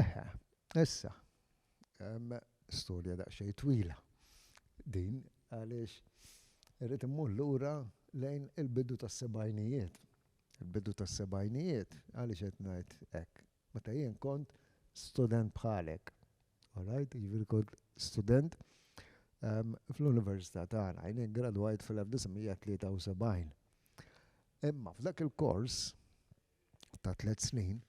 Eħe, issa, hemm storja daqsxejn twila din għaliex irrid immur lura lejn il-bidu tas-sebgħinijiet. Il-bidu tas-sebgħinijiet, għaliex qed ngħid hekk? Meta jien kont student bħalek, all right, jiġifieri kont student fl-università tagħna, jien iggradwajt fl-1973. Imma f'dak il-kors, ta' tliet snin,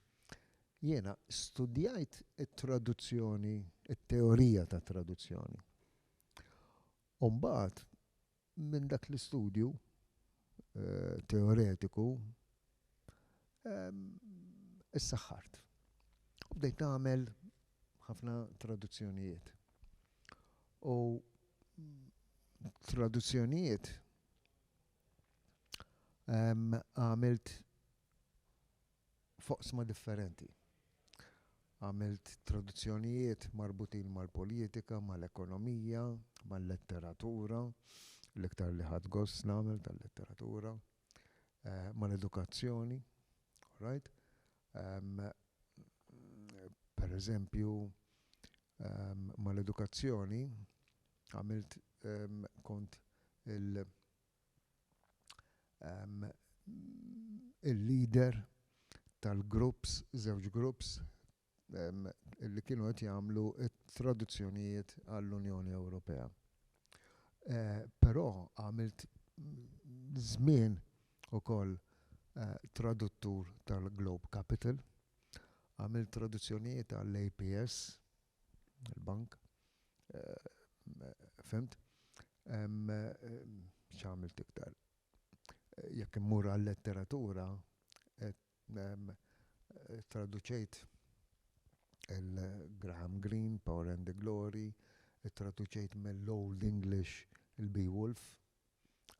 jiena studjajt it-traduzzjoni, it-teorija tat-traduzzjoni. U mbagħad minn dak l-istudju teoretiku issaħħart. U bdejt nagħmel ħafna traduzzjonijiet. U traduzzjonijiet għamilt foqsma differenti. Għamilt traduzzjonijiet marbutin mal-politika, mal-ekonomija, mal-letteratura, l-iktar li ħadd gost nagħmel tal-letteratura, eh, mal-edukazzjoni, right? Um, per eżempju, um, mal-edukazzjoni, Għamilt kont il il-leader tal-groups, żewġ groups li kienu qed jagħmlu t-traduzzjonijiet għall-Unjoni Ewropea. Però għamilt żmien ukoll traduttur tal-Globe Capital, għamilt traduzzjonijiet għall-APS, il-bank. Fimt? ċamil tiktar. Jekk immur għal-letteratura, traduċejt il-Graham Greene, Power and the Glory, traduċejt mill-Old English il-Beowulf,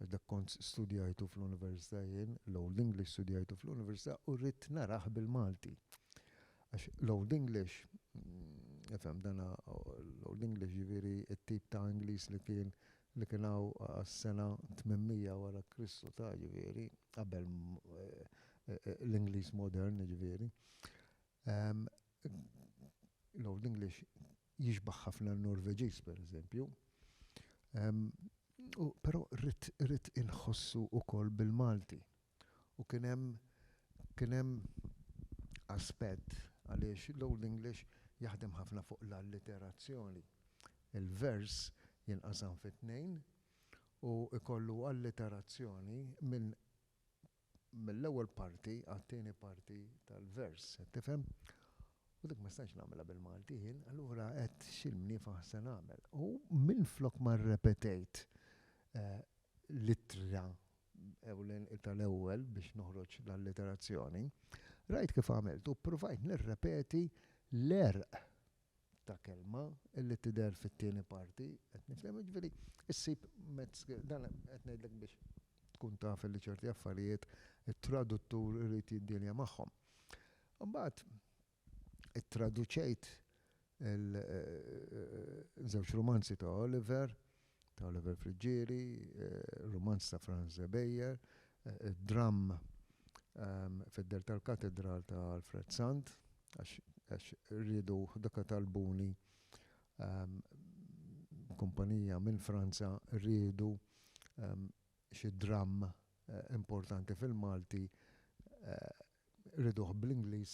għax dak kont studjajtu fl-università jien, l-Old English studjajtu fl-università u rrid narah bil-Malti. Għax l-Old English, ifhem, dan l-Old English jiġifieri t-tip ta' Ingliż li kien li kien hawn għas-sena 800 wara Kristu ta' jiġifieri, qabel l-Ingliż modern jiġifieri. L-Old English jixbah ħafna n-Norveġiż pereżempju, u però rrid rrid inħossu wkoll bil-Malti. U kien hemm kien hemm aspett għaliex l-Old English jaħdem ħafna fuq l-alliterazzjoni. Il-vers jinqasam fi tnejn u jkollu alliterazzjoni minn mill-ewwel parti għat-tieni parti tal-vers, qed tifhem? U dik ma stajtx nagħmilha bil-Malti jien, allura għedt x'imniefaħ se nagħmel. U minflok ma rrepetejt l-ittra tal-ewwel biex noħroġ l-alliterazzjoni, rajt kif għamilt u ppruvajt nirrepeti l-għerq ta' kelma li tidher fit-tieni parti, qed nifhem, jiġifieri ssib mezz, dan qed ngħidlek biex tkun taf li ċerti affarijiet it-traduttur irid jiddielja magħhom. Imbagħad ittraduċejt il żewġ rumanzi ta' Oliver ta' Oliver Friggieri, rumanz ta' Franz Zebejer, dramm fid-dehar tal-katedral ta' Alfred Sant, għax riedu dak talbuni kumpanija minn Franza riedu xi dramm importanti fil-Malti Riduh bl-Ingliż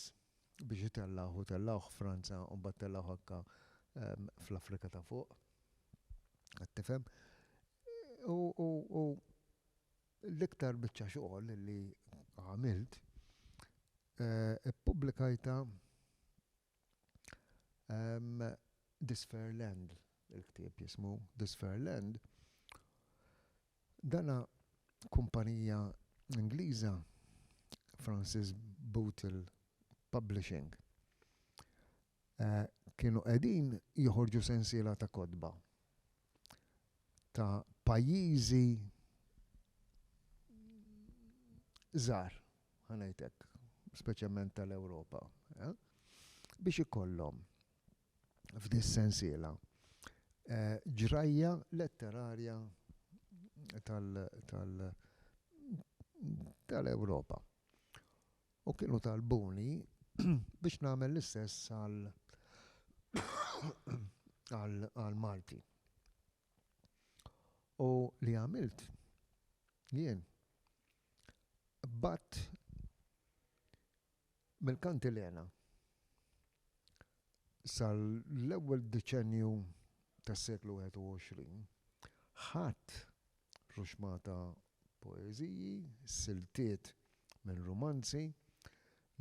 biex itellgħuh u tellgħuh Franza u mbagħad tellgħuh anke fl-Afrika ta' fuq. Qed tifhem? U l-iktar biċċa xogħol li għamilt ippubblikajtha This Fair Land, il-ktieb jismu This Fair Land, dana kumpanija Ingliża Francis Bootle Publishing kienu qegħdin joħorġu sensiela ta' kotba. ta' pajjiżi żgħar, ħanajtek, speċjalment tal-Ewropa, eh? biex ikollhom f'dis sensiela eh, ġrajja letterarja tal-Ewropa. U kienu talbuni biex nagħmel l-istess għall-Malti. U li għamilt jien bat mill-kantilena sal-ewwel deċenju tas-seklu 21 ħadd Ħruxma ta' poeżiji, siltiet minn rumanzi,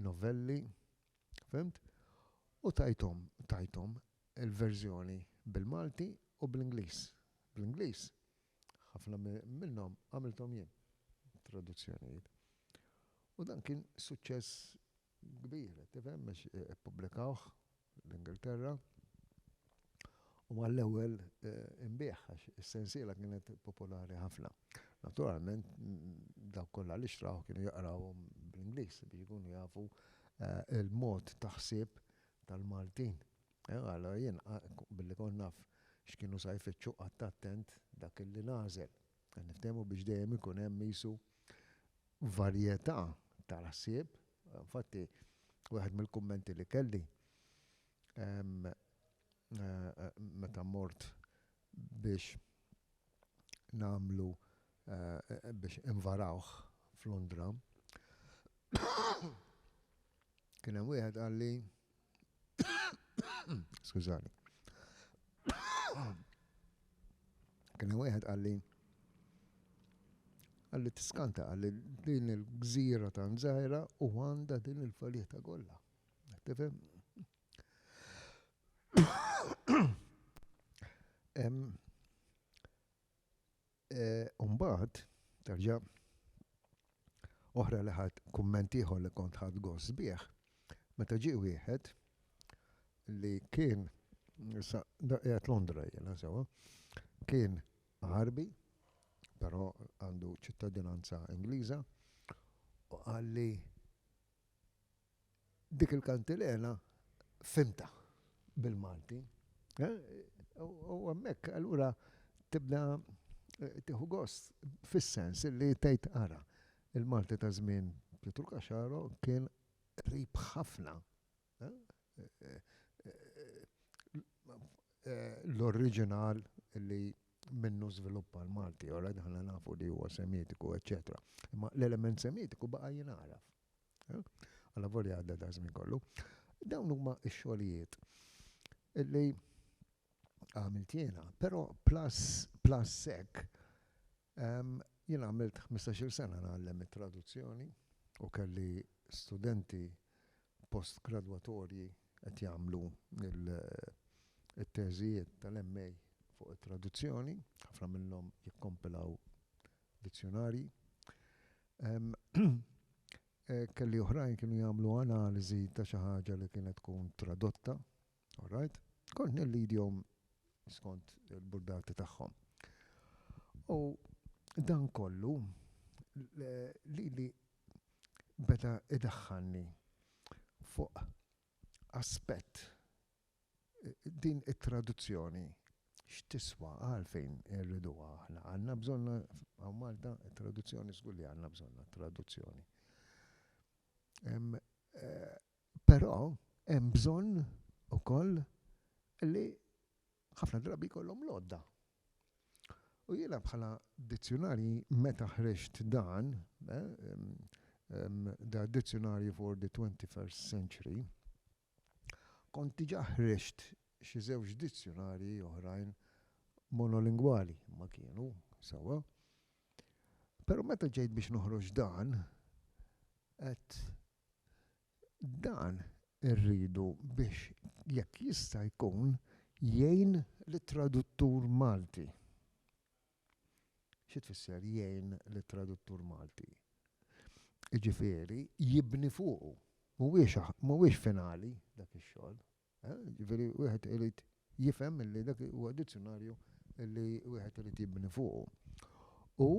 novelli, fhimt? U tajthom, tajthom il-verżjoni bil-Malti u bl-Ingliż. Bl-Ingliż, ħafna minnhom għamilthom jien, traduzzjonijiet. U dan kien suċċess kbir, qed tifhem, għax ippubblikawh l-Ingilterra, u għall-ewwel inbiegħ għax is-sensiela kienet popolari ħafna. Naturalment dawk kollha li xtrawh kienu jaqrawhom bl-Ingliż biex ikunu jafu l-mod ta' ħsieb tal-Maltin. Allura jien billi kont naf x'kienu sa jfittxu qgħadt attent dak li nagħżel. Niftehmu biex dejjem ikun hemm qisu varjetà tal-ħsieb, infatti wieħed mill-kummenti li kelli meta mort biex nagħmlu biex invarawh f'Londra, kien hemm wieħed qalli, Skużani. Kien wieħed għalli għalli tiskanta għalli din il-gżira ta' nżajra u għanda din il-faljeta kollha. Tifhem? U mbagħad, terġa' oħra li ħadt kumment ieħor li kont ħadt gost bih, meta ġie wieħed li kien, issa qiegħed Londra jiena sewwa, kien Għarbi, però għandu ċittadinanza Ingliża, u qalli, dik il-kantilena fimta bil-Malti. Eh? U għammek, allura tibda eh, tiħu gost fis-sens li tgħid ara il-Malti ta' żmien Pietru Kaxaro kien rib ħafna l-oriġinal li minnu żviluppa l-Malti, u rajt aħna nafu li huwa Semitiku, eċċetera. Imma l-element Semitiku baqa' jingħaraf. Alla volja għadda da żmien kollu. Dawn huma x-xogħlijiet li għamilt jiena, però plus hekk Jien għamilt ħmistax-il sena ngħallem it-traduzzjoni u kelli studenti postgradwatorji qed jagħmlu t-teżijiet tal-MA fuq it-traduzzjoni, ħafna minnhom jikkompilaw dizzjunarji. Kelli oħrajn kienu jagħmlu analiżi ta' xi ħaġa li kienet tkun tradotta. All right. Kont nillidjhom skont il-burdati tagħhom. U dan kollu lili beda idaħħalni fuq aspett din it-traduzzjoni x'tiswa għalfejn irriduha aħna. Għandna bżonna hawn Malta traduzzjoni żgur li għandna bżonna traduzzjoni. Eh, Però hemm bżonn ukoll li ħafna drabi jkollhom l-għodda. U jiena bħala dizzjunarji meta ħriġt dan, da eh, Dictionary for the 21st Century, kont diġà ħriġt xi żewġ dizzjunarji oħrajn monolingwali ma kienu, sawa. Però meta ġejt biex noħroġ dan, qed Dan irridu biex jekk jista' jkun jgħin lit-traduttur Malti. Xi tfisser jgħin lit-traduttur Malti? Jiġifieri jibni fuqu. Mhuwiex mhuwiex finali dak ix-xogħol. Jiġifieri wieħed irid jifhem li dak huwa dizzjunarju li wieħed irid jibni fuqu. U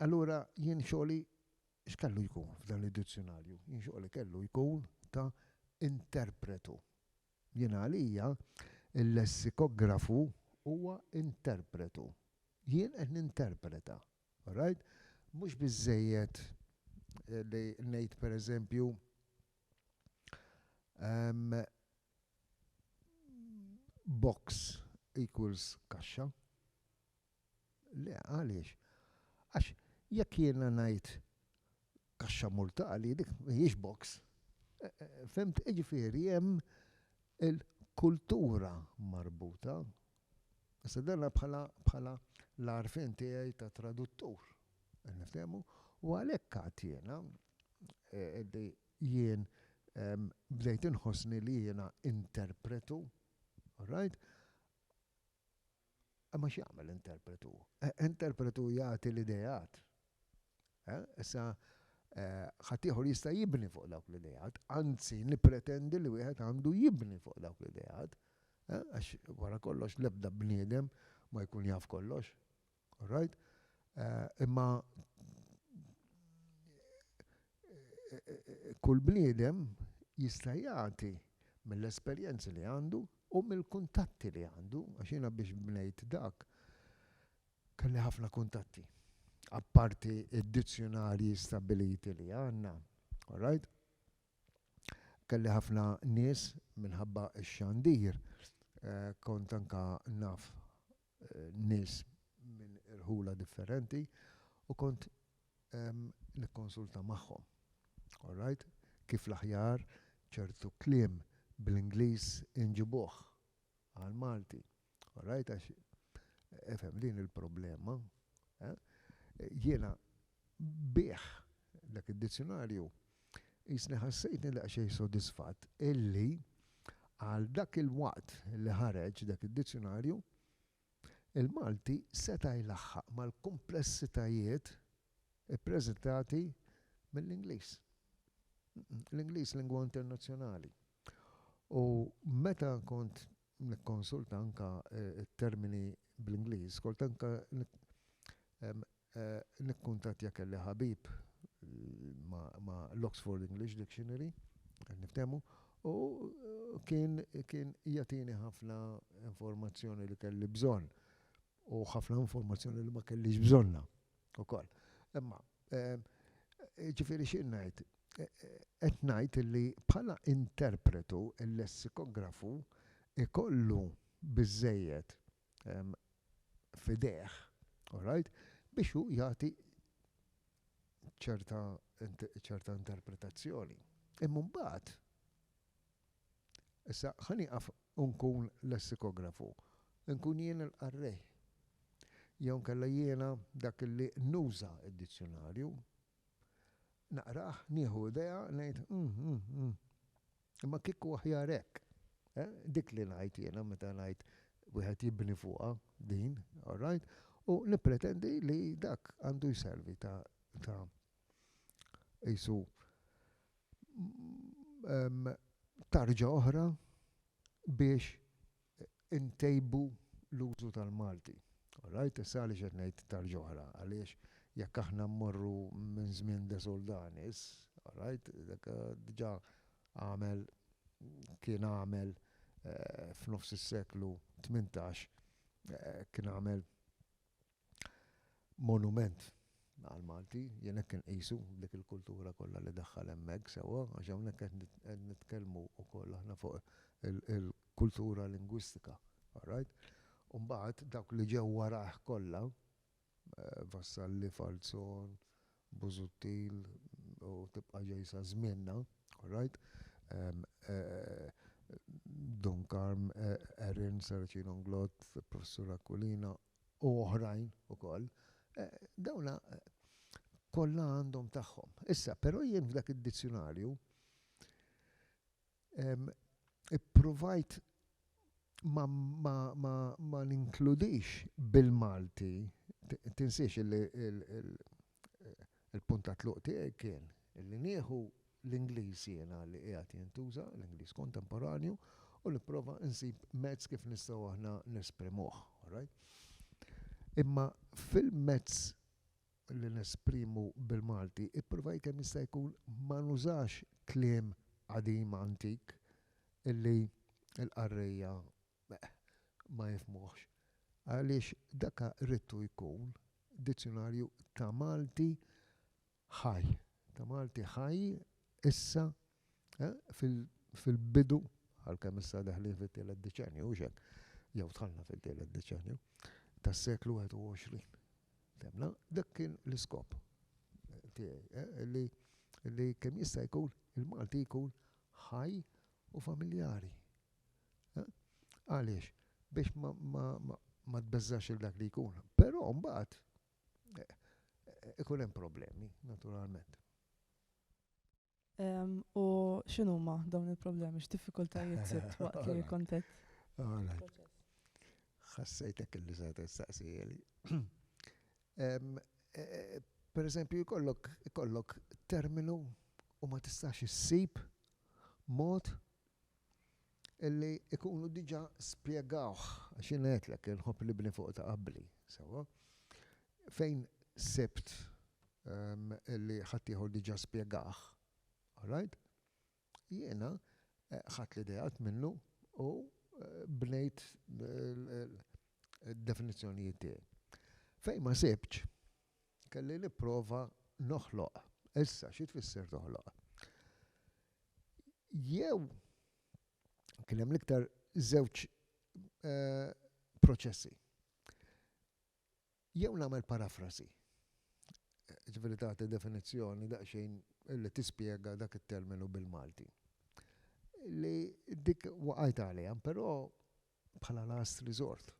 Allura jien xogħli x'kellu jkun f'dan id-dizzjunarju? Jien xogħli kellu jkun ta' interpretu. Jien għalija l-lessikografu huwa interpretu. Jien qed ninterpreta. Orajt? Mhux biżżejjed li ngħid pereżempju box equals kaxxa. Le, għaliex? Għax jekk jiena ngħid kaxxa mortali, dik mhijiex box. Fhimt? Jiġifieri hemm il-kultura marbuta. Issa dan bħala bħala l-għarfien tiegħi ta' traduttur. Qed niftehmu? U għalhekk għad jiena li jien bdejt inħossni li jiena interpretu, all right, Imma x'jagħmel interpretu? Interpretu jagħti l-ideat. Issa, ħaddieħor jista' jibni fuq dawk l-ideat, anzi nippretendi li wieħed għandu jibni fuq dawk l-ideat, għax wara kollox l-ebda bniedem ma jkun jaf kollox. Orrajt? Imma Kull bniedem jista' jagħti mill-esperjenzi li għandu u mill-kuntatti li għandu, għax jiena biex bnejt dak kelli ħafna kuntatti. Apparti d-dizzjunarji stabbiliti li għandna, alright? Kelli ħafna nies minħabba x-xandir kont anke naf nies minn irħula differenti u kont nikkonsulta magħhom. All right? Kif l-aħjar ċertu kliem bl-Ingliż inġibuh għall-Malti. All right? Għax ifhem din il-problema. Jiena bih dak id-dizzjunarju Qisni ħassejtni daqsxejn sodisfatt illi għal dak il-waqt li ħareġ dak id-dizzjunarju, il-Malti seta' jlaħħaq mal-kumplessitajiet ippreżentati mill-Ingliż. L-Ingliż lingwa internazzjonali u meta kont nikkonsulta anke t-termini bl-Ingliż, kont anke nikkuntattja kelli ħabib ma' l-Oxford English Dictionary, qed niftehmu, u kien jagħtini ħafna informazzjoni li kelli bżonn. u ħafna informazzjoni li ma kellix bżonna ukoll. Imma ehm, ġifieri xi ngħid, e, e, qed ngħid li bħala interpretu il-lessikografu ikollu biżejjed ehm, fideħ, right, biex hu jagħti ċerta ċerta interpretazzjoni. Imma mbagħad Issa ħa nieqaf u nkun lessikografu. Inkun jien il-qarrej. Jew inkella jiena dak li nuża d-dizzjunarju. Naqrah, nieħu idea, ngħid, 'Umm, umm, umm. Imma kieku aħjar hekk. Eh? Dik li ngħid jiena meta ngħid wieħed jibni fuqha din, all right? U nippretendi li dak għandu jservi ta' ta' qisu tarġa oħra biex intejbu l-użu tal-Malti. All right? Issa għaliex qed ngħid tarġa oħra? Għaliex jekk aħna mmorru minn żmien De Soldanis, all right, dak diġà għamel kien għamel f'nofs is-seklu tmintax kien għamel monument għal Malti, jien hekk inqisu dik il-kultura kollha li daħħal hemmhekk sewwa, għax hawnhekk qed nitkellmu wkoll aħna fuq il-kultura lingwistika, all right? U mbagħad dawk li ġew warajh kollha, Vassalli, Falzon, Busuttil u tibqa' ġej sa żmienna, all right? Dun Karm, Erin, Saracino Nglott, Professur Aquilina, u oħrajn ukoll, dawn kollha għandhom tagħhom. Issa, però jien f'dak id-dizzjunarju ippruvajt ma ninkludix bil-Malti, tinsiex li Il-punt ta' tluq tiegħi kien li nieħu l-Ingliż jiena li qiegħed jintuża, l-Ingliż kontemporanju, u nipprova nsib mezz kif nistgħu aħna nesprimuh, alright? Imma fil-mezz li nesprimu bil-Malti, ippruvajt kemm jista' jkun ma nużax kliem qadim antik illi l-qarrejja Meh, ma jifhmuhx, għaliex daka ridtu jkun dizzjunarju ta' Malti ħaj, ta' Malti ħaj issa fil-bidu, għalkemm issa deħlin fit-tielet deċennju, hux hekk? Jew dħalna fit-tielet deċennju, tas-seklu 21. Fehmna? Dak kien l-iskop tiegħi, li kemm jista' jkun il-Malti jkun ħaj u familjari. Għaliex? Biex ma tbeżżax il dak li jkun. Però mbagħad eh, ikun hemm problemi, naturalment. U x'inhuma dawn il-problemi, x'diffikultajiet sibt waqt li kontet? Ħassejtek illi se tistaqsili. E, e, per eżempju, jkollok terminu u ma tistax issib mod illi jkunu diġà spjegawh, għax jiena għedtlek li nħobb nibni fuq ta' qabli, sewwa? Fejn sibt illi ħaddieħor diġà spjegah, alright, jiena ħadt l-ideat minnu u bnejt id-definizzjonijiet tiegħi. Fejn ma sibtx, kelli nipprova noħloq. Issa, xi tfisser toħloq? jew kien hemm l-iktar żewġ proċessi. Jew nagħmel parafrasi, ġifieri tagħti definizzjoni daqsxejn li tispjega dak it-terminu bil-Malti. Li dik waqajt għaliha, però bħala last resort.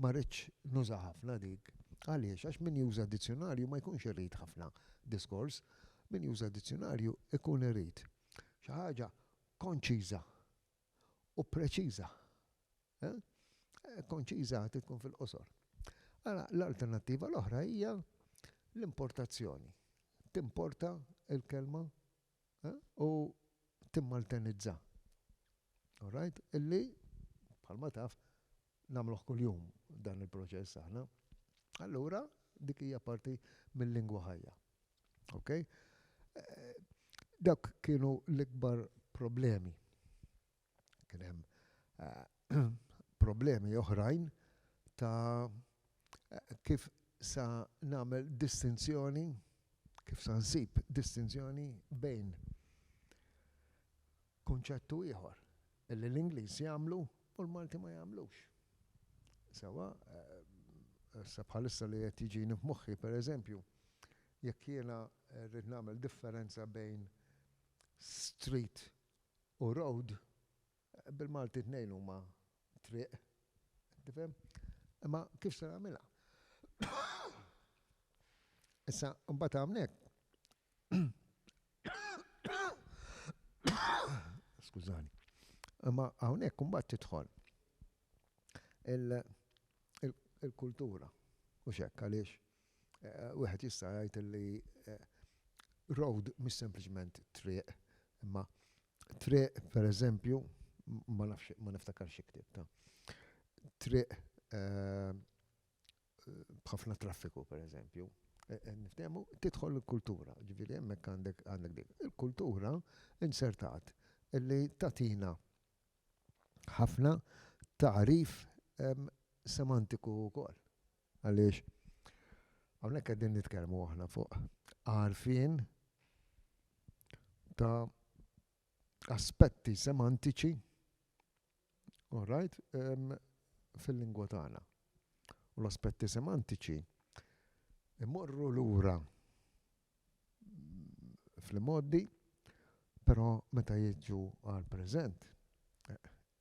Ma ridtx nuża ħafna dik. Għaliex? Għax min juża dizzjunarju ma jkunx irid ħafna diskors. Min juża dizzjunarju jkun irid xi ħaġa konċiża u preċiża. Konċiża trid tkun fil-qosor. Ara, l-alternattiva l-oħra hija l-importazzjoni. Timporta l-kelma u timmaltenizza. All right? Illi, bħalma taf, nagħmluh kuljum dan il-proċess aħna. Allura, dik hija parti mil-lingwa ħajja. Okay? Dawk kienu l-ikbar problemi. Kien hemm problemi oħrajn ta' kif sa nagħmel distinzjoni, kif sa nsib distinzjoni bejn kunċettu ieħor li l-Ingliż jagħmlu u l-Malti ma jagħmlux. Sewa, eh, sa bħalissa li qed jiġini f'moħħi pereżempju, jekk jiena rrid nagħmel differenza bejn street U road, bil-Malti t-tnejn huma triq, qed tifhem? Imma kif se nagħmilha? Issa, imbagħad hawnhekk, skużani, imma hawnhekk imbagħad tidħol il-kultura, mhux hekk, għaliex Wieħed jista' jgħid li road mhix sempliċement triq, imma triq pereżempju, ma nafx ma niftakarx xi ktibt, triq b'ħafna traffiku pereżempju, niftehmu, tidħol il-kultura, ġifieri hemmhekk għandek dik. Il-kultura inzertat li tagħtina ħafna tagħrif semantiku wkoll. Għaliex hawnhekk qegħdin nitkellmu aħna fuq għarfien ta' aspetti semantiċi all right, um, fil-lingwa tagħna. U l-aspetti semantiċi imorru lura fl-imgħoddi, però meta jiġu għall-preżent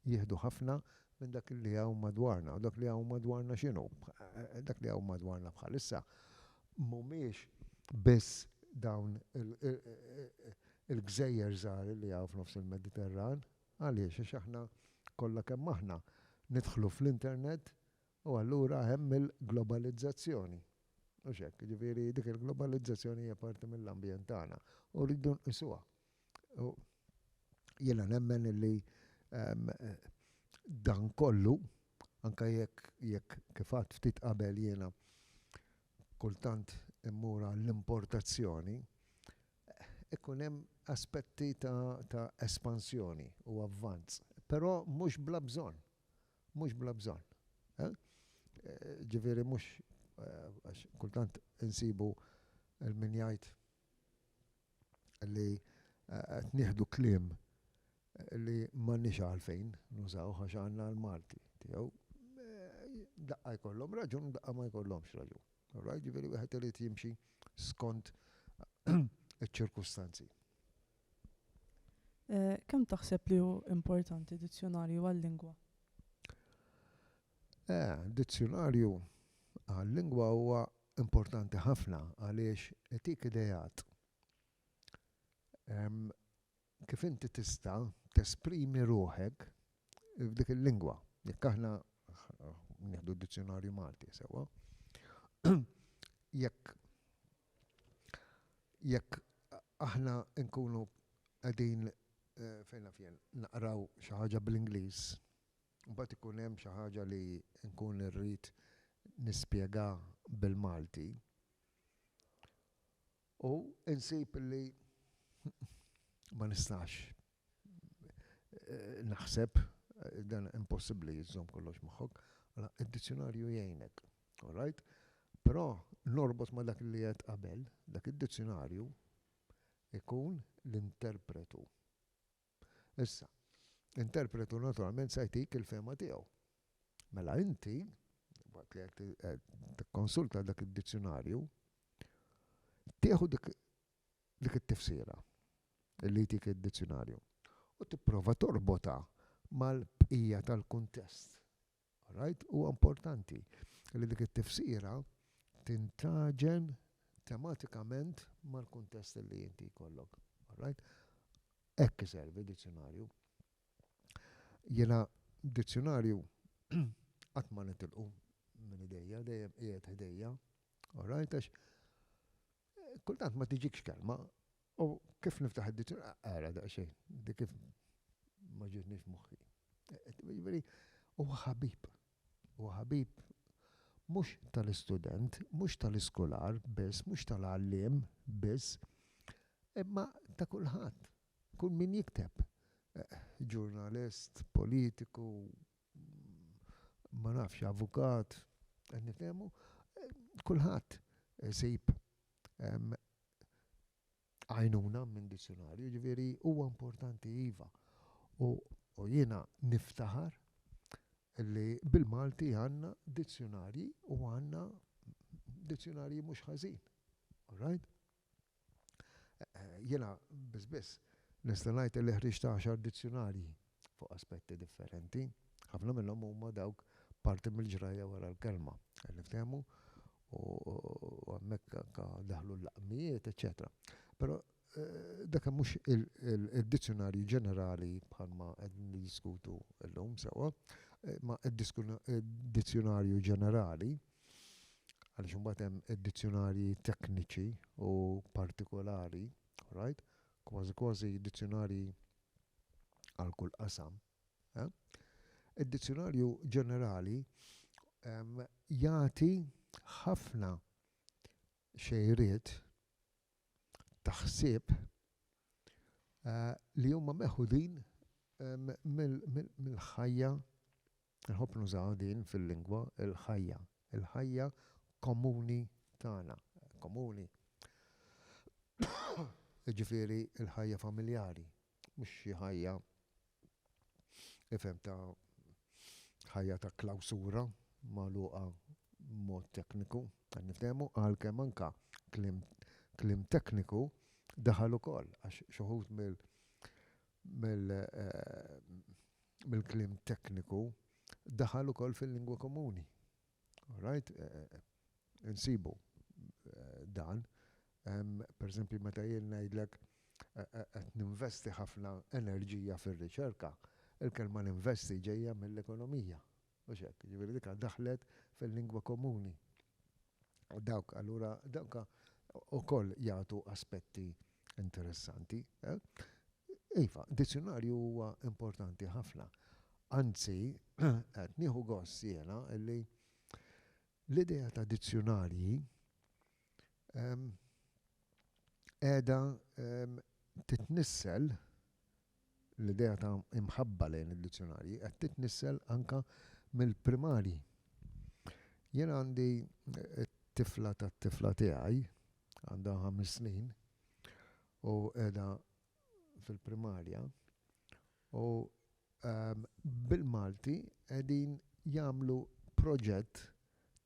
jieħdu ħafna minn dak li hawn madwarna. U dak li hawn madwarna x'inhu? Dak li hawn madwarna bħalissa mhumiex biss dawn il-gżejjer żgħar li hawn f'nofs il-Mediterran. Għaliex? Għax aħna kollha kemm aħna nidħlu fl-internet U allura hemm il-globalizzazzjoni, mhux hekk? Jiġifieri dik il-globalizzazzjoni hija parti mill-ambjent tagħna u rridu nqisuha. U jiena nemmen li dan kollu, anke jekk jekk kif għadt ftit qabel jiena kultant immur għall-importazzjoni, ikun hemm aspetti ta' espansjoni u avvanz, però mhux bla bżonn. Mhux bla bżonn. Ġifieri mhux għax kultant insibu l-min jgħid li qed nieħdu kliem li m'għandniex għalfejn nużawh għax għandna l-Malti tiegħu. Daqqa jkollhom raġun u daqqa ma jkollhomx raġun. All right? Ġifieri wieħed irid jimxi skont iċ-ċirkustanzi. Kemm taħseb li hu importanti dizzjunarju għal-lingwa? Dizzjunarju għal-lingwa huwa importanti ħafna għaliex itik ideat kif inti tista' tesprimi ruħek f'dik il-lingwa. Jekk aħna nieħdu d-dizzjunarju Malti sewwa, jekk Jekk aħna nkunu qegħdin, fejn naf jien, naqraw xi ħaġa bl-Ingliż, imbagħad ikun hemm xi ħaġa li nkun irrid nispjega bil-Malti, u insib li ma nistax. naħseb, dan impossibbli li żżomm kollox moħħok, mela d-dizzjunarju jgħinek. All right? Però norbot ma' dak li għedt qabel, dak id-dizzjunarju ikun l-interpretu. Issa, interpretu naturalment se jtik il-fema tiegħu. Mela inti, waqt li qed tikkonsulta dak id-dizzjunarju, tieħu dik dik it-tifsira li jtik id-dizzjunarju u tipprova torbotha mal-bqija tal-kuntest. Alright? Huwa importanti li dik it-tifsira tintaġen tematikament mal-kuntest li inti jkollok. Alright? Hekk iservi dizzjunarju. Jiena dizzjunarju qatt ma nitilqu minn idejja, dejjem qiegħed ħdejja. Alright? Għax Kultant ma tiġikx kelma u kif niftaħ id-dizzjonarju ara daqsxejn, dik kif ma ġietniex moħħi. Jiġifieri huwa ħabib. Huwa ħabib mhux tal-istudent, mhux tal-iskolar biss, mhux tal-għalliem biss, imma ta' kulħadd. Kull min jikteb, ġurnalist, politiku, ma nafx, avukat, qed nifhemu, kulħadd isib għajnuna minn dizzjunarju, jiġifieri huwa importanti iva. U jiena niftaħar li bil-Malti għandna dizzjunarji u għandna dizzjunarji mhux ħażin. All right? Jiena biss biss nista' ngħid illi ħriġt għaxar dizzjunarji fuq aspetti differenti. Ħafna minnhom huma dawk parti mill-ġrajja wara l-kelma, qed niftehmu, u hemmhekk anke daħlu l-laqmijiet, eċċetera. Però dak mhux id-dizzjunarju ġenerali bħalma qed niddiskutu llum sewwa, imma d-dizzjunarju ġenerali għaliex imbagħad hemm id-dizzjunarji tekniċi u partikolari, right? Kważi kważi dizzjunarji għal kull qasam. Eh? Id-dizzjunarju ġenerali um, jagħti ħafna xejriet taħsib uh, li huma meħudin um, mill-ħajja mil, mil Inħobb nużaha din fil-lingwa, il-ħajja, il-ħajja komuni tagħna, komuni, jiġifieri l-ħajja familjari, mhux xi ħajja, ifhem, ta' ħajja ta' klawsura magħluqa b'mod tekniku, qed niftehmu, għalkemm anke kliem kliem tekniku daħal ukoll għax xi wħud mill-, bil-kliem tekniku, daħal ukoll fil-lingwa komuni. All right? Insibu dan. Per eżempju, meta jien ngħidlek qed ninvesti ħafna enerġija fir-riċerka, il-kelma ninvesti ġejja mill-ekonomija. Mhux hekk, jiġifieri dik daħlet fil-lingwa komuni. Dawk allura dawk ukoll jagħtu aspetti interessanti. Iva, dizzjunarju huwa importanti ħafna. Anzi, qed nieħu gost jiena li l-idea ta' dizzjunarji qiegħda titnissel l-idea ta' imħabba lejn id-dizzjonarji qed titnissel anke mill-primarji. Jien għandi t-tifla tat-tifla tiegħi, għandha ħames snin u qiegħda fil-primarja u bil-Malti qegħdin jagħmlu proġett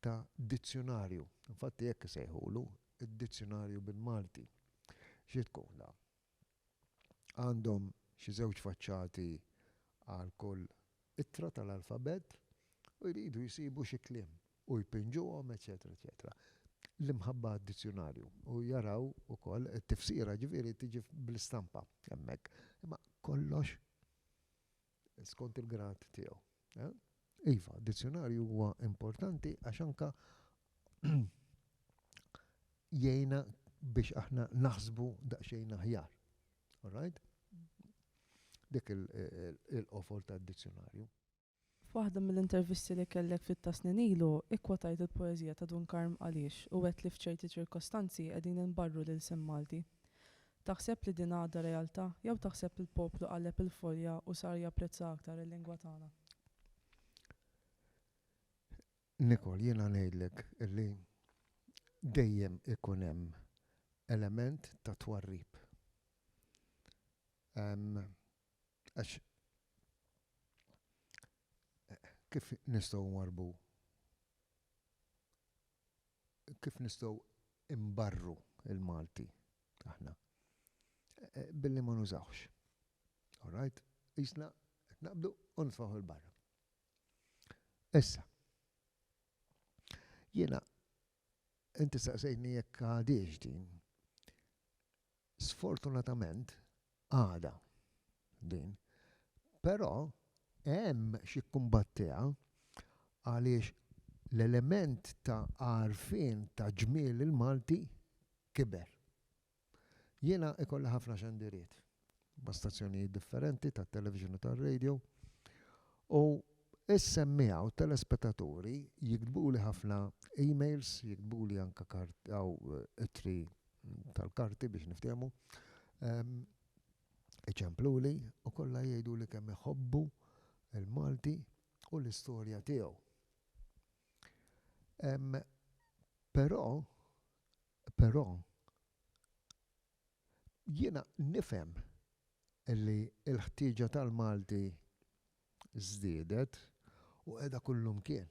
ta' dizzjonarju. Infatti hekk isejħulu, id-dizzjonarju bil-Malti. Xi tkun dan? Għandhom xi żewġ faċċati għal kull ittra tal-alfabett u jridu jsibu xi kliem u jpinġuhom eċċetera eċċetera. L-imħabba għad-dizzjunarju u jaraw ukoll it-tifsira ġifieri tiġi bl-istampa hemmhekk. Imma kollox skont il-grad tiegħu. Iva, dizzjonarju huwa importanti għax anka jgħina biex aħna naħsbu daqsxejn aħjar. Alright? Dik il-qofol ta' dizzjonarju. F'waħda mill-intervisti li kellek ftit ta' snin ilu, ikkwotajt il-poeżija ta' Dun Karm Għaliex u għedt li f'ċerti ċirkostanzi qegħdin inbarru l-ilsien Malti. Taħseb li din għadha realtà jew taħseb li l-poplu qalleb il-folja u sar japprezza aktar il-lingwa tagħna? Nicole, jiena ngħidlek li dejjem ikun hemm element ta' twarrib. Għax kif nistgħu nwarrbu Kif nistgħu nbarru l-Malti aħna? Billi ma nużawhx. All right? Qisna qed naqbdu u nitfgħuh 'il barra. Issa, jiena inti saqsejtni jekk għadiex din. Sfortunatament, għadha din. Però hemm x'jikkumbattiha għaliex l-element ta' għarfien ta' ġmiel il-Malti kiber. Jiena ikolli ħafna xandiriet ma' stazzjonijiet differenti tat-television u tar-radio u s-semmiegħa u t-telespetaturi jiktbuli ħafna emails, jiktbuli anke ittri tal-karti biex niftehmu, iċempluli u kollha jgħiduli kemm iħobbu l-Malti u l-istorja tiegħu. Però, però, jiena nifhem li l-ħtieġa tal-Malti żdiedet u qiegħda kullumkien.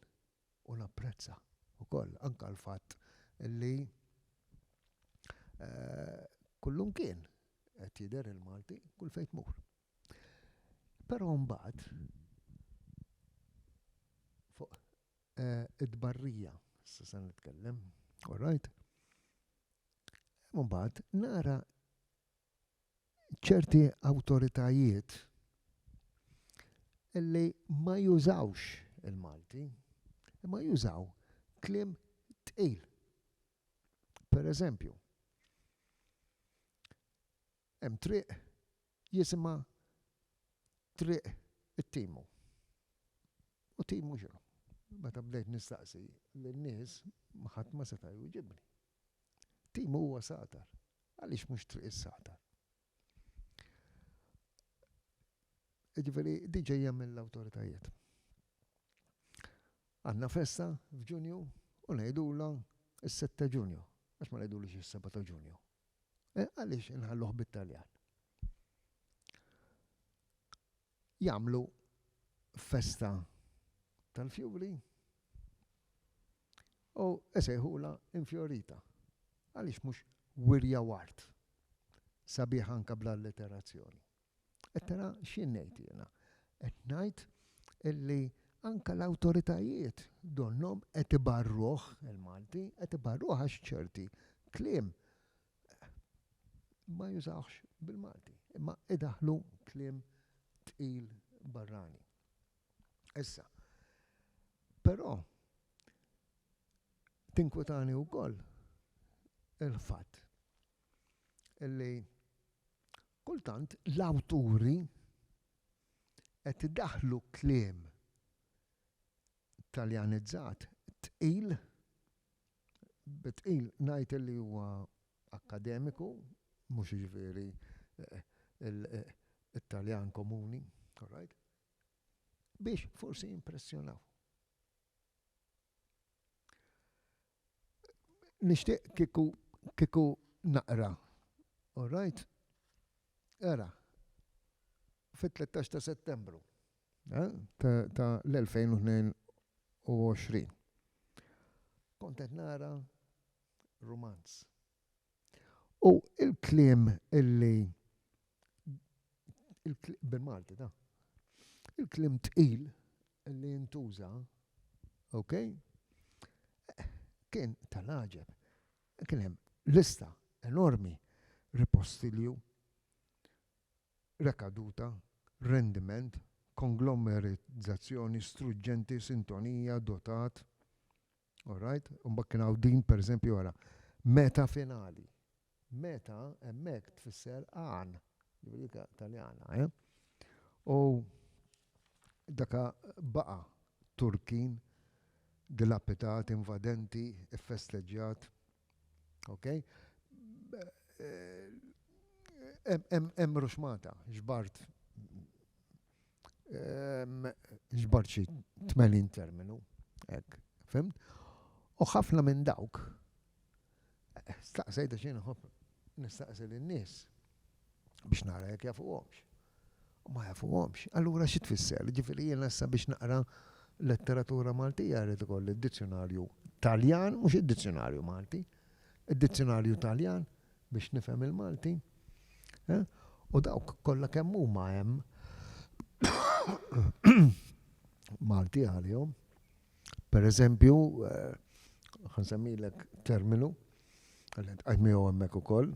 u napprezza wkoll anke l-fatt li kullumkien qed jidher il-Malti kull fejn tmur. Però mbagħad fuq it-tbarrija issa se nitkellem, orajt, imbagħad nara ċerti awtoritajiet illi ma jużawx il-Malti, imma jużaw kliem tqil. Per eżempju, hemm triq jisimha triq it-timu. U timu xinu? Meta bdejt nistaqsi l-nies ħadd ma seta' jwieġibni. Timu huwa satar. Għaliex mhux Triq is-Sagħtar? Jiġifieri din ġejja mill-awtoritajiet. Għandna festa f'Ġunju u ngħidulha s-sitt ta' Ġunju, għax ma ngħidulhiex is-seba' ta' Ġunju? Għaliex inħalluh bit-Taljan? Jagħmlu festa tal-fjuri u jsejħulha infjorita, għaliex mhux wirja u art, sabiħa anke bl-alliterazzjoni. Qed tara x'jien ngħid jiena? Qed ngħid illi anke l-awtoritajiet donnhom qed ibarruh, il-Malti, qed ibarruh għax ċerti kliem ma jużawhx bil-Malti, imma idaħħlu kliem tqil barrani. Issa, però tinkwetani wkoll il-fatt li kultant l-awturi qed idaħħlu kliem taljanizzat tqil bi tqil ngħid illi huwa akkademiku, mhux jiġifieri it-Taljan komuni, all right, biex forsi jimpressjonaw. Nixtieq kieku kieku naqra, all right, ara, fit-13 ta' Settembru. ta' l-2022. Kont qed nara rumanz. U l-kliem illi bil-Malti da. Il-kliem tqil li jintuża, ok? Kien tal-għaġeb. Kien hemm lista enormi ripostilju rekaduta, rendiment, konglomerizzazzjoni, struġġenti, sintonija, dotat. All right? U mbagħad kien hawn din pereżempju ara, meta finali. Meta hemmhekk tfisser għan, dik Taljana, eh? U Daka baqa' Turkin dilapitat, invadenti, iffesteġġjat. Ok? Hemm ruxmata, ġbart ġbart xi tmenin terminu, hekk, fimt? U ħafna minn dawk staqsejt għax jien inħobb nistaqsi lin-nies biex nara jekk jafuhomx. U ma jafuhomx. Allura xi tfisser? Jiġifieri jiena issa biex naqra letteratura Maltija rrid ikolli d-dizzjunarju Taljan, mhux id-dizzjunarju Malti, id-dizzjunarju Taljan biex nifhem il-Malti. U dawk kollha kemm huma hemm Malti għalihom. Per eżempju, ħansemmilek terminu, għalli tqajmiegħu hemmhekk ukoll,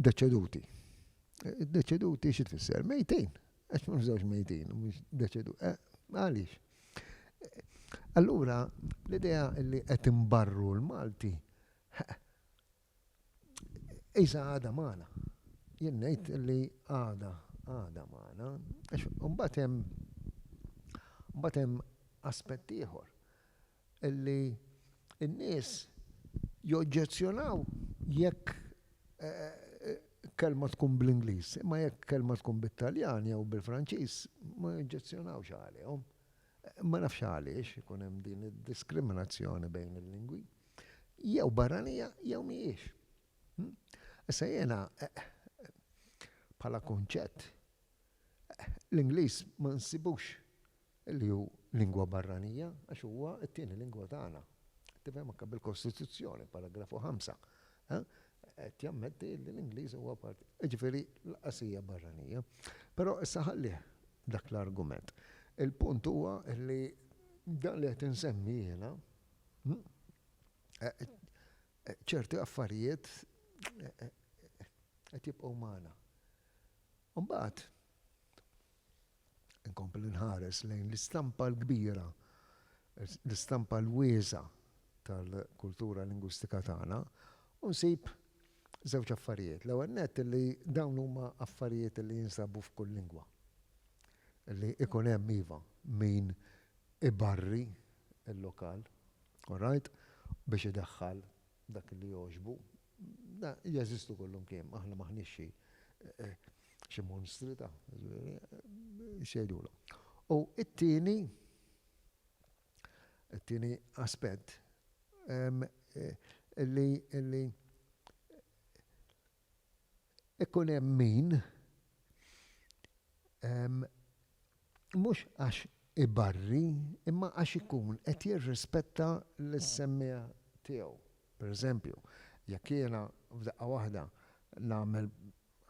deċeduti. Deċeduti xi tfisser? Mejtin. Għax ma nżewġ mejtin, mhux deċedu. Eh, għaliex? Allura, l-idea li qed imbarru l-Malti, iża għada magħna. Jien ngħid li għada, għada magħna, għax mbagħad hemm mbagħad hemm aspett ieħor. li n-nies joġġezzjonaw jekk kelma tkun bl-Ingliż, imma jekk kelma tkun bit-Taljan jew bil-Franċiż ma joġġezzjonawx għalihom. Ma nafx għaliex ikun hemm din id-diskriminazzjoni bejn il-lingwi. Jew barranija jew mhijiex. Issa jiena bħala kunċett l-Ingliż ma nsibux li hu lingwa barranija, għax huwa t-tieni lingwa tagħna. Tifhem anke bil-Kostituzzjoni, paragrafu ħamsa, qed jammetti li l-Ingliż huwa parti, jiġifieri lanqas hija barranija. Però issa ħallih dak l-argument. Il-punt huwa li dan li qed insemmi jiena, ċerti affarijiet qed jibqgħu magħna. Imbagħad Inkompli nħares lejn l-istampa l-kbira, l-istampa l-wiesa tal-kultura lingwistika tagħna u nsib żewġ affarijiet. L-ewwel nett li dawn huma affarijiet li jinsabu f'kull lingwa. Li ikun hemm iva min ibarri l-lokal, all right, biex idaħħal dak li jogħġbu Jeżistu kullimkien, aħna m'aħniex xi xi monstri ta', jiġifieri, x'jgħidulhom. U t-tieni, it-tieni aspett, li Ikun hemm min, mhux għax ibarri, imma għax ikun qed jirrispetta lis-semmiegħa tiegħu. Per eżempju, jekk jiena f'daqqa waħda nagħmel,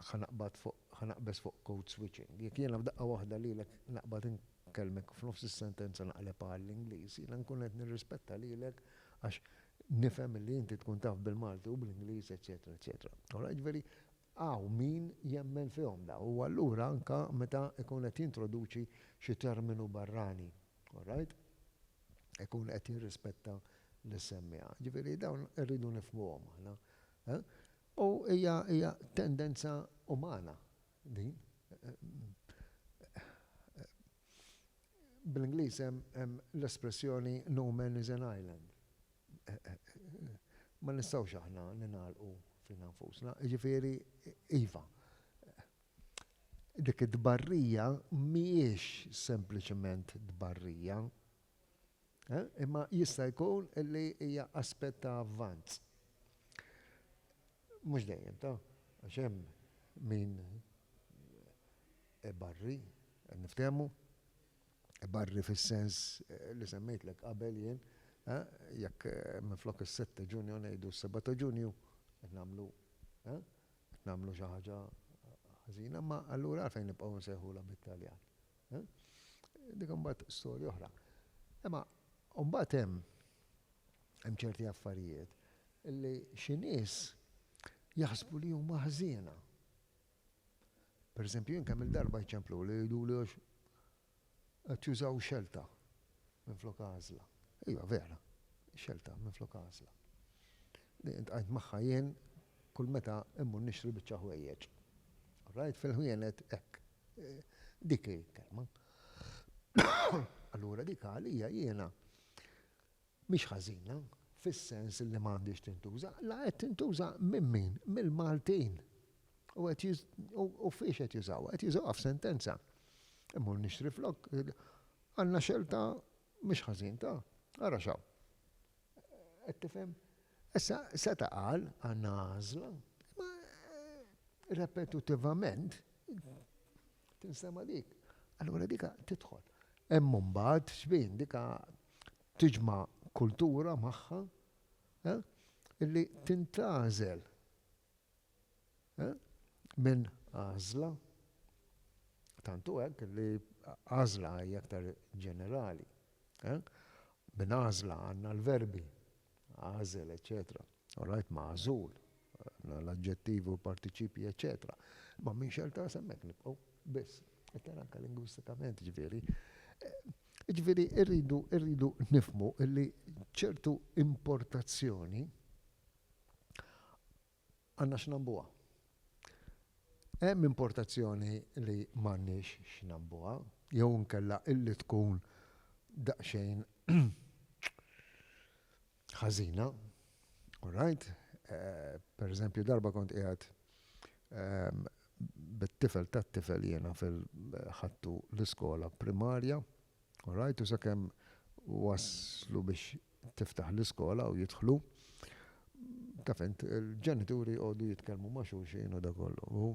ħa naqbad fuq, ħa naqbeż fuq code switching, jekk jiena f'daqqa waħda lilek naqbad inkellmek u f'nofs is-sentenza naqlebha għall-Ingliż, jiena nkun qed nirrispetta lilek għax Nifhem illi inti tkun taf bil-Malti u bl-Ingliż eċċetera eċċetera. All right, ġifieri hawn min jemmen fihom dawn u allura anke meta jkun qed jintroduċi xi terminu barrani, all right, ikun qed jirrispetta lis-semmiegħa. Ġifieri dawn irridu nifhmuhom aħna. U hija hija tendenza umana din. Bl-Ingliż hemm l-espressjoni no man is an island. Ma nistgħux aħna ningħalqu fina nfusna. Jiġifieri, iva, dik it-tbarrija mhijiex sempliċement tbarrija, Imma jista' jkun li hija aspett ta' avvanz. Mhux dejjem, ta, għax hemm min ibarri, niftehmu, ibarri fis-sens li semmejtlek qabel jien, jekk minflok is-sitt ta' Ġunju ngħidu s-seba' ta' Ġunju, qed nagħmlu, qed nagħmlu xi ħaġa ħażina, imma allura għalfejn nibqgħu nsejħulha bit-Taljan? Dik imbagħad storja oħra. Imma mbagħad hemm hemm ċerti affarijiet li xi nies jaħsbu li huma ħżiena. Per eżempju, jien kemm il-darba jċemplu li jgħiduli għax qed jużaw xelta minn flok għażla. Iva vera, xelta minn flok għażla. Intqajt magħha jien kull meta immur nixtri biċċa ħwejjeġ. Rajt fil-ħwienet hekk, Dik hi l-kelma. Allura dik għalija jiena mhix ħażina fis-sens li ma għandhiex tintuża, la qed tintuża minn min? Mill-Maltin. U qed jiż u fiex qed jużawha? Qed jużawha f'sentenza. Immur nixtri flokk għandna xelta mhix ħażin ta? Ara x'hawn. Qed tifhem? Issa, seta' qal, għandna għażla, imma repetutivament tinstema' dik. Allura dika tidħol. Hemm imbagħad xbin dika tiġma' kultura magħha li tintgħażel minn għażla. Tant hu hekk li għażla hija aktar ġenerali. Minn għażla għandna l-verbi, għażel, eċċetera. All right, magħżul, għandna l-aġġettivi u l-partiċipji, eċċetera. Imma minn xell ta' hemmhekk nibqgħu biss. Iktar anke lingwistikament, ġifieri. Ġifieri rridu rridu nifhmu li ċertu importazzjoni Għandna x'nabbuha. Hemm importazzjoni li m'għandniex x'nabbuha, jew inkella illi tkun daqsxejn ħażina, alright? Per eżempju, darba kont qiegħed bit-tifel tat-tifel jiena fil-, ħadtu l-iskola primarja, alright, u sakemm waslu biex tiftaħ l-iskola u jidħlu, taf int, il-ġenituri jqogħdu jitkellmu ma' xulxin u dak kollu. U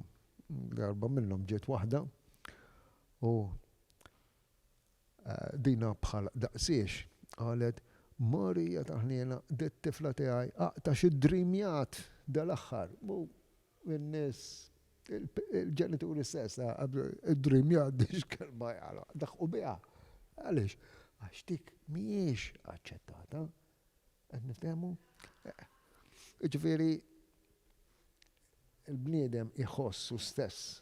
darba minnhom ġiet waħda u eh, dina bħal daqsiex qalet Marija taħniena dit-tifla tiegħi aqta xi dreamjat dal-aħħar. in-nies, il-ġenituri stess, qablu, id-dream jgħaddi x'kelma jagħlaq, daħqu biha. Għaliex? Għax dik mhijiex aċċettata. Qed niftehmu? Jiġifieri il-bniedem iħossu stess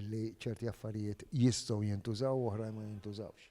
li ċerti affarijiet jistgħu jintużaw u oħrajn ma jintużawx.